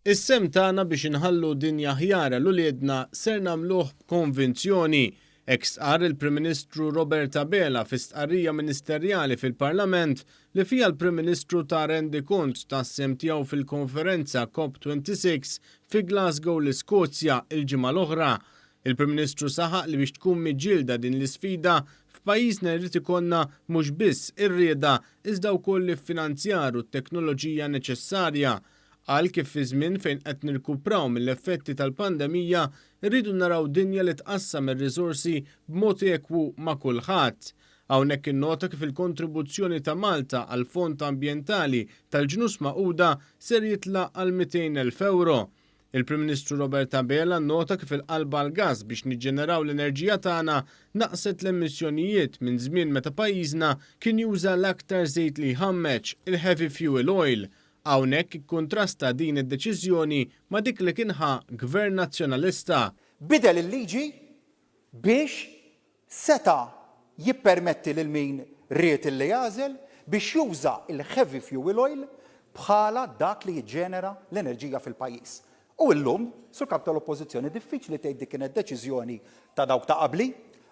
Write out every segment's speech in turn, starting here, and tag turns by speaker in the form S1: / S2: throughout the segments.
S1: Is-sehem tagħna biex inħallu dinja aħjar għal uliedna ser nagħmluh b'konvinzjoni, hekk stqarr il-Prim Ministru Robert Abela fi stqarrija ministerjali fil-Parlament li fiha l-Prim Ministru ta rendikont tas-sehem tiegħu fil-konferenza COP26 fi Glasgow l-Iskozja l-ġimgħa l-oħra. Il-Prim Ministru saħaq li biex tkun miġġielda din l-isfida F'pajjiżna jrid ikollna mhux biss ir-rieda iżda wkoll l-iffinanzjar u t-teknoloġija neċessarja. Qal kif fi żmien fejn qed nirkupraw mill-effetti tal-pandemija rridu naraw dinja li tqassam ir-riżorsi b'mod ekwu ma' kulħadd. Hawnhekk innota kif il-kontribuzzjoni ta' Malta għall-Fond Ambjentali tal-Ġnus Magħquda ser jitlaq għal 200 elf ewro. Il-Prim Ministru Robert Abela nnota kif il-qalba għall-gass biex niġġeneraw l-enerġija tagħna naqqset l-emissjonijiet minn żmien meta pajjiżna kien juża l-aktar żejt li jħammeġ, il-heavy fuel oil. Hawnhekk ikkuntrasta din id-deċiżjoni ma' dik li kien ħa Gvern Nazzjonalista. Biddel il-liġi
S2: biex seta' jippermetti lil min ried illi jagħżel biex juża l-heavy fuel oil bħala dak li jiġġenera l-enerġija fil-pajjiż. U llum, Sur Kap tal-Oppożizzjoni, diffiċli tgħid dik kienet deċiżjoni ta' dawk ta' qabli,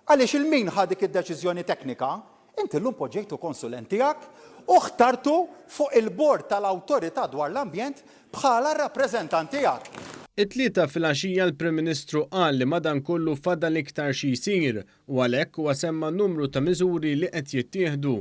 S2: għaliex il-min ħa dik id-deċiżjoni teknika Inti llum poġġejtu konsulent tiegħek u ħtartu fuq il-bord tal-Awtorità dwar l-Ambjent bħala r-rappreżentant tiegħek. It-Tlieta
S1: filgħaxija l-Prim Ministru qal li madankollu fadal iktar xi jsir u għalhekk huwa semma numru ta' miżuri li qed jittieħdu.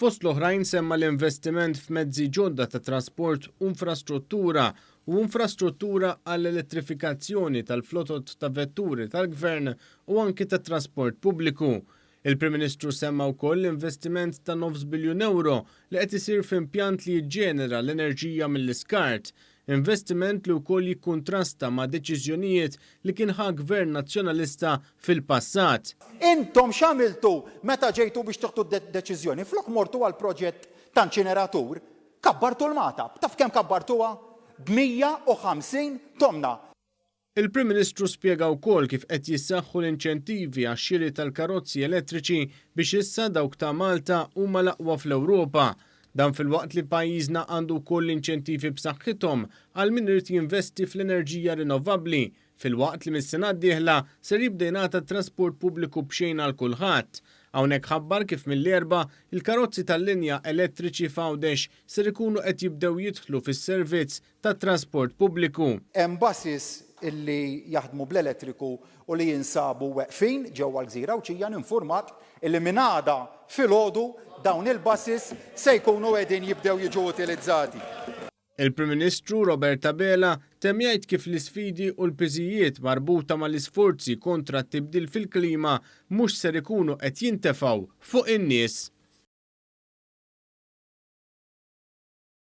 S1: Fost l-oħrajn semma l-investiment f'mezzi ġodda ta' trasport u infrastruttura u infrastruttura għall-elettrifikazzjoni tal-flotot ta' vetturi tal-Gvern u anki tat-trasport pubbliku. Il-Prim Ministru semma wkoll l-investiment ta' nofs biljun ewro li qed isir f'impjant li jiġġenera l-enerġija mill-iskart, investiment li wkoll jikkuntrasta ma' deċiżjonijiet li kien ħa Gvern Nazzjonalista fil-passat. Intom
S2: x'għamiltu meta ġejtu biex tieħdu deċiżjoni? Flok mortu għal proġett ta' inċineratur, kabbartu l-Magħtab. Taf kemm kabbartuha? B' 150 tomna. Il-Prim
S1: Ministru spjega wkoll kif qed jissaħħu l-inċentivi għax-xiri tal-karozzi elettriċi biex issa dawk ta' Malta huma l-aqwa fl-Ewropa. Dan filwaqt li pajjiżna għandu wkoll inċentivi b'saħħithom għal min irid jinvesti fl-enerġija rinnovabbli filwaqt li mis-sena d-dieħla ser jibda jingħata t-trasport pubbliku b'xejn għal kulħadd. Hawnhekk ħabbar kif mill-Erbgħa il-karozzi tal-linja elettriċi f'Għawdex ser ikunu qed jibdew jidħlu fis-servizz tat-trasport pubbliku. Hemm buses
S2: li jaħdmu bl-elettriku u li jinsabu weqfin ġewwa l-Gżira Għawdxija ninfurmak li minn għada filgħodu dawn il-buses se jkunu qegħdin jibdew jiġu utilizzati. Il-Prim
S1: Ministru Robert Abela temm jgħid kif l-isfidi u l-piżijiet marbuta mal-isforzi kontra t-tibdil fil-klima mhux ser ikunu qed jintefgħu fuq in-nies.